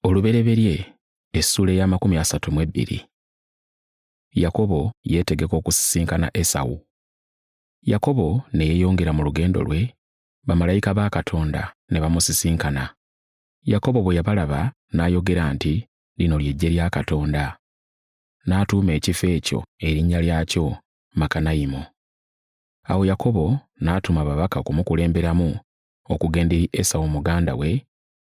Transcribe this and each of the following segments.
olubereberye essuula ey'amakumi asatu mu ebbiri yakobo yeetegeka okusisinkana esawu yakobo ne yeeyongera mu lugendo lwe bamalayika ba katonda ne bamusisinkana yakobo bwe yabalaba n'ayogera nti lino ly'eggye lya katonda n'atuuma ekifo ekyo erinnya lyakyo makanayimu awo yakobo n'atuma ababaka kumukulemberamu okugenda eri Esawu muganda we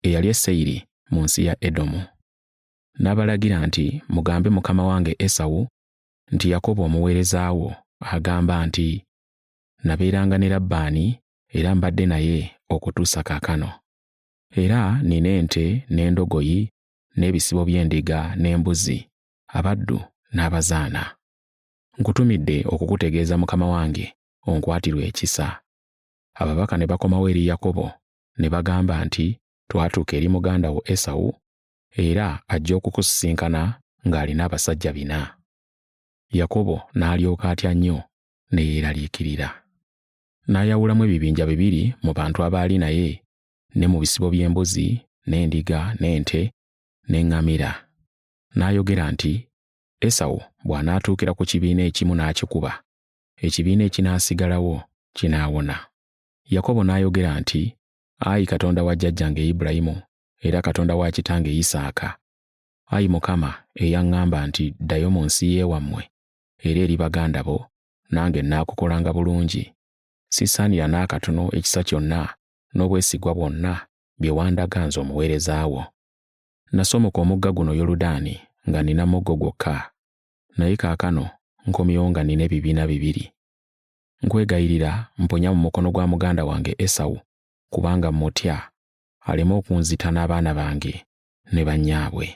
eyali e Seyiri mu nsi ya Edomu. N'abalagira nti, Mugambe mukama wange Esawu nti Yakobo omuweereza wo agamba nti, Nabeeranga ne Labbaani era mbadde naye okutuusa kaakano. Era nina ente n'endogoyi n'ebisibo by'endiga n'embuzi, abaddu n'abazaana. Nkutumidde okukutegeeza mukama wange onkwatirwe ekisa. ababaka ne bakomawo eri Yakobo ne bagamba nti, Twatuuka eri muganda wo Esawu, era ajja okukusisinkana ng'alina abasajja bina. Yakobo n'alyoka atya nnyo ne yeeraliikirira. N'ayawulamu ebibinja bibiri mu bantu abaali naye, ne mu bisibo by'embuzi, n'endiga, n'ente, n'eŋŋamira. N'ayogera nti, Esawu bw'anaatuukira ku kibiina ekimu n'akikuba, ekibiina ekinaasigalawo kinaawona. Yakobo n'ayogera nti, Ayi Katonda wa jjajjange Ibulayimu era Katonda wa kitange Isaaka, ayi Mukama eyaŋŋamba nti ddayo mu nsi y'ewammwe era eri baganda bo, nange nnaakukolanga bulungi. Sisaanira n'akatono ekisa kyonna n'obwesigwa bwonna bye wandaga nze omuweereza wo. Nasomoka omugga guno Yoludaani nga nnina muggo gwokka, naye kaakano nkomyewo nga nnina ebibiina bibiri. Nkwegayirira mponya mu mukono gwa muganda wange Esawu, kubanga mmutya, aleme okunzita n'abaana bange ne bannyaabwe.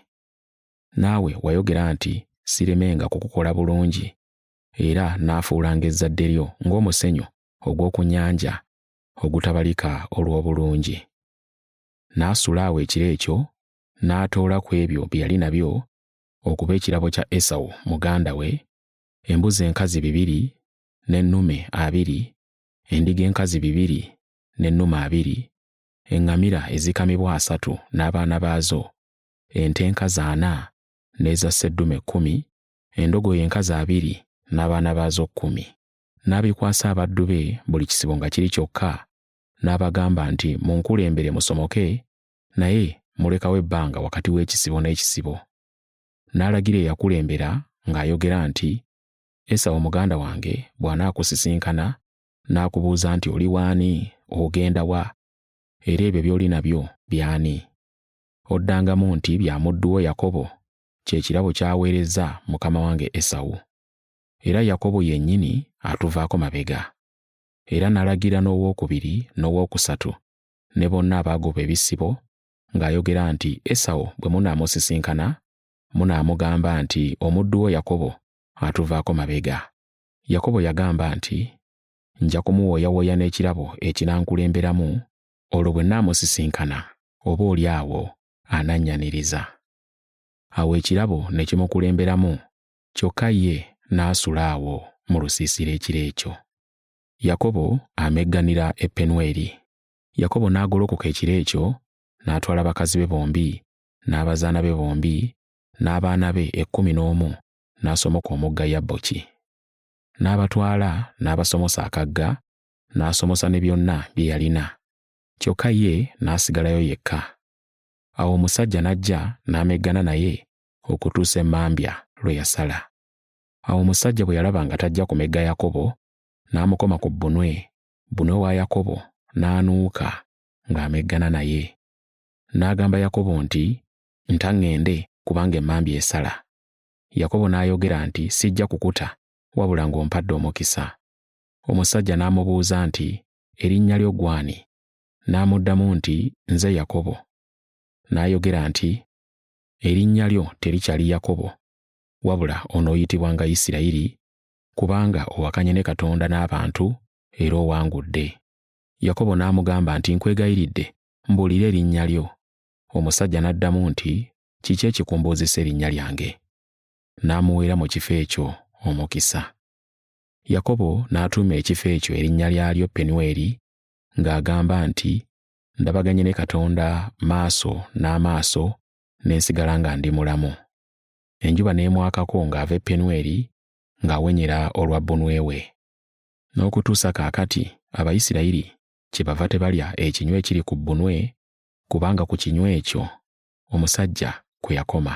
Naawe wayogera nti siremenga kukukola bulungi, era naafuulanga ezzadde lyo ng'omusenyu ogw'oku nnyanja ogutabalika olw'obulungi. N'asula awo ekiro ekyo, n'atoola ku ebyo bye yali nabyo okuba ekirabo kya Esawu muganda we, embuzi enkazi bibiri n'ennume abiri, endiga enkazi bibiri n'ennume abiri, eŋŋamira ezikamibwa asatu n'abaana baazo, ente enkazi ana n'eza sseddume kkumi, endogoyi enkazi abiri n'abaana baazo kkumi. N'abikwasa abaddu be buli kisibo nga kiri kyokka, n'abagamba nti, Munkulembere musomoke naye mulekawo ebbanga wakati w'ekisibo n'ekisibo. N'alagira eyakulembera ng'ayogera nti, Esawo muganda wange bw'anaakusisinkana n'akubuuza nti oli waani, ogenda wa, era ebyo by'oli nabyo by'ani? Oddangamu nti bya muddu wo Yakobo, kye kirabo ky'aweerezza mukama wange Esawu. Era Yakobo yennyini atuvaako mabega. Era n'alagira n'owokubiri n'owokusatu ne bonna abaagoba ebisibo, ng'ayogera nti, Esawo bwe munaamusisinkana, munaamugamba nti, Omuddu wo Yakobo atuvaako mabega. Yakobo yagamba nti, Nja kumuwooyawooya n'ekirabo ekinankulemberamu, olwo bwe nnaamusisinkana, oba oli awo anannyaniriza. Awo ekirabo ne kimukulemberamu, kyokka ye n'asula awo mu lusiisira ekiro ekyo. Yakobo amegganira e Penweri. Yakobo n'agolokoka ekiro ekyo, n'atwala bakazi be bombi, n'abazaana be bombi, n'abaana be ekkumi n'omu, n'asomoka omugga Yabboki. N'abatwala n'abasomosa akagga, n'asomosa ne byonna bye yalina. Kyokka ye n'asigalayo yekka. Awo omusajja n'ajja n'ameggana naye okutuusa emmambya lwe yasala. Awo omusajja bwe yalaba nga tajja kumegga Yakobo, n'amukoma ku bbunwe bbunwe wa Yakobo n'anuuka ng'ameggana naye. N'agamba Yakobo nti, Nta ŋŋende kubanga emmambya esala. Yakobo n'ayogera nti, Sijja kukuta wabula ng'ompadde omukisa. Omusajja n'amubuuza nti, Erinnya lyo gwani? N'amuddamu nti, Nze Yakobo. N'ayogera nti, Erinnya lyo terikyali Yakobo, wabula onooyitibwanga Isirayiri kubanga owakanye ne Katonda n'abantu era owangudde. Yakobo n'amugamba nti, Nkwegayiridde, mbuulira erinnya lyo. Omusajja n'addamu nti, Kiki ekikumbuuzisa erinnya lyange? N'amuweera mu kifo ekyo omukisa. Yakobo n'atuuma ekifo ekyo erinnya lyalyo Penweri ng'agamba nti, Ndabaganye ne Katonda maaso n'amaaso ne nsigala nga ndi mulamu. Enjuba n'emwakako ng'ava e Penweri ng'awenyera olwa bbunwe we. N'okutuusa kaakati Abayisirayiri kyebava tebalya ekinywa ekiri ku bbunwe, kubanga ku kinywa ekyo omusajja kwe yakoma.